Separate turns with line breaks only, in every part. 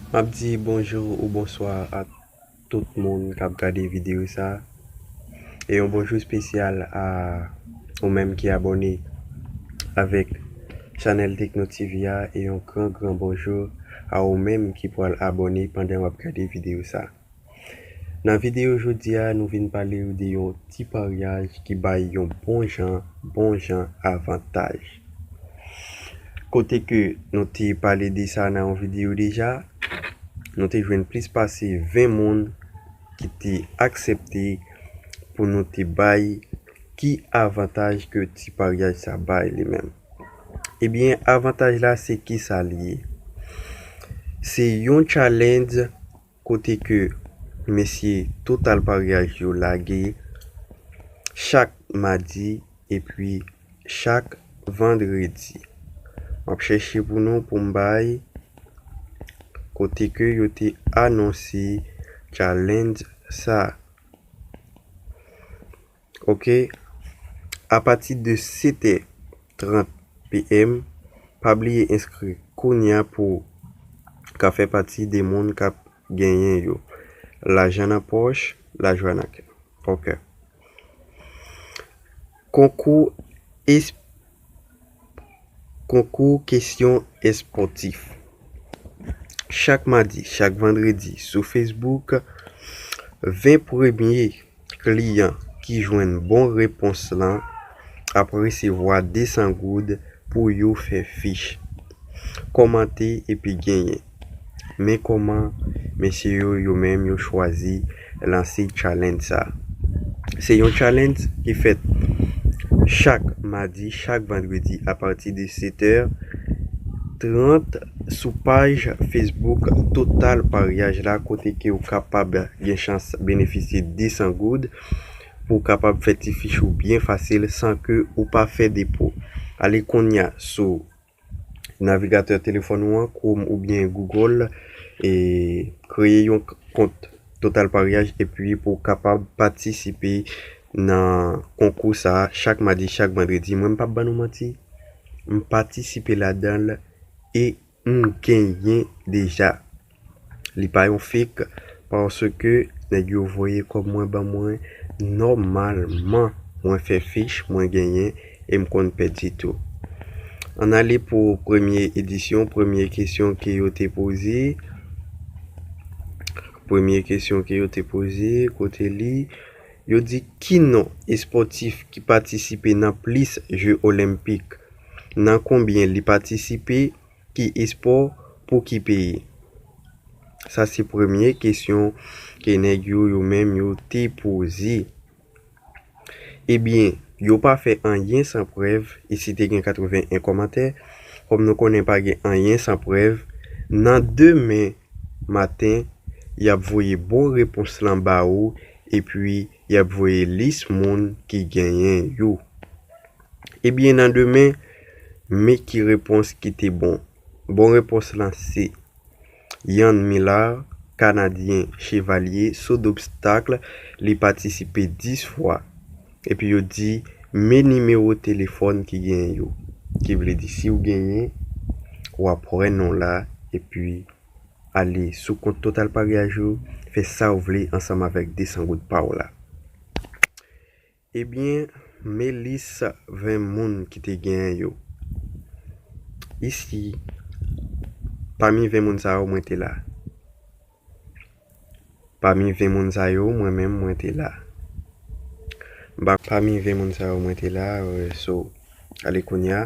Map di bonjou ou bonswa a tout moun kap gade video sa e yon bonjou spesyal a ou menm ki abòne avèk chanèl tekno TV a e yon gran gran bonjou a ou menm ki pwal abòne pandan wap gade video sa. Nan videyo jodi a nou vin pale ou de yon ti paryaj ki bay yon bon jan bon jan avantaj. Kote ke nou te pale de sa nan yon videyo deja, nou te jwenn plis pase 20 moun ki te aksepte pou nou te bay ki avantaj ke ti paryaj sa bay li menm. Ebyen avantaj la se kisa li ye? Se yon challenge kote ke mesye Total Paryaj yo lage chak madi epi chak vandredi. M ap chèche pou nou pou m bay kote ke yo te anonse challenge sa. Ok apati de 7 è 30 PM pa bliye enskri kounya pouw ka fè pati de moun kap genyen yo lajan nan pòch lajwa nan kè ok konkou esp. Konkou kesyon espòtif Chak madi, chak vandredi sou Facebook, 20 premye kliyan ki jwenn bon repons lan ap resevwa 200 goud pou yo fè fich, kòmante epi genyen. Men kòman mesye yo yo menm yo chwazi lanse challenge sa. Se yon challenge ki fèt chak madi, chak vandredi a pati de 7 è 30 sou paj Facebook Total Paryaj la kote ke ou kapab gen chans benefisye 200 goud pou ou kapab fè ti fich ou byen fasil san ke ou pa fè depo. Ale kounya sou. Navigatè telefòn ou an, Chrome oubyen Google, e kreye yon kont Total Paryaj epi pou w kapab patisipe nan konkou sa a chak madi, chak vandredi. Mwen m pap ban nou manti, m patisipe ladan l e m genyen deja. Li pa yon fake paske nèg yo voye kòb mwen ban mwen nòmalman mwen fè fich mwen genyen e m konn pèdi tou. Ann ale pou premye edisyon premye kesyon ke yo te poze premye kesyon ke yo te poze kote li yo di ki non espòtif ki patisipe nan plis je olenpik nan konbyen li patisipe Ki espò pou ki peyi? Sa se premye kesyon ke nèg yo yo menm yo te poze. Ebyen, yo pa fè anyen san prèv e si te gen 81 kòmantè, kòm nou konnen pa gen anyen san prèv, nan demen maten y ap voye bon repons lan ba ou epi y ap voye lis moun ki genyen yo. Ebyen nan demen me ki repons ki te bon. Bon repons lan se. Yann Millard, Kanadyen, Chevalye, so d'obstacle, li patisipe 10 fwa. Epi yo di me nimewo telefòn ki gen yo. Ki vle di si ou genyen, ou ap wè non la epi ale sou kont Totalpariage ou, fè sa ou vle ansanm avèk 200 goud pa ou la. Ebyen me lis 20 moun ki te gen yo. Isi, pami 20 moun sa yo mwen te la. Pami 20 moun sa yo mwen menm mwen te la. Pami 20 moun sa yo mwen te la, so, ale kounya.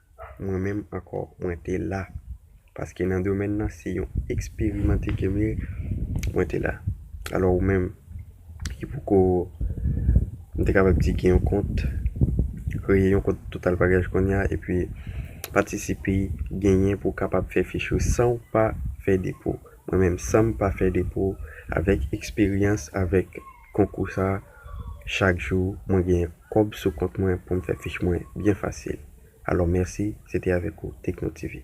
Mwen menm ankò mwen te la paske nan domèn nan se yon eksperimante ke m ye mwen te la alò ou menm ki poko m te kapab di gen yon kont kreye yon kont total package konnya epi patisipe genyen pou w kapab fè fich ou san w pa fè depo mwen menm san m pa fè depo avèk eksperyans avèk konkou sa chak jou mwen gen kob sou kont mwen poum fè fich mwen byen fasil alò mèsi se te avèk ou tekno tv.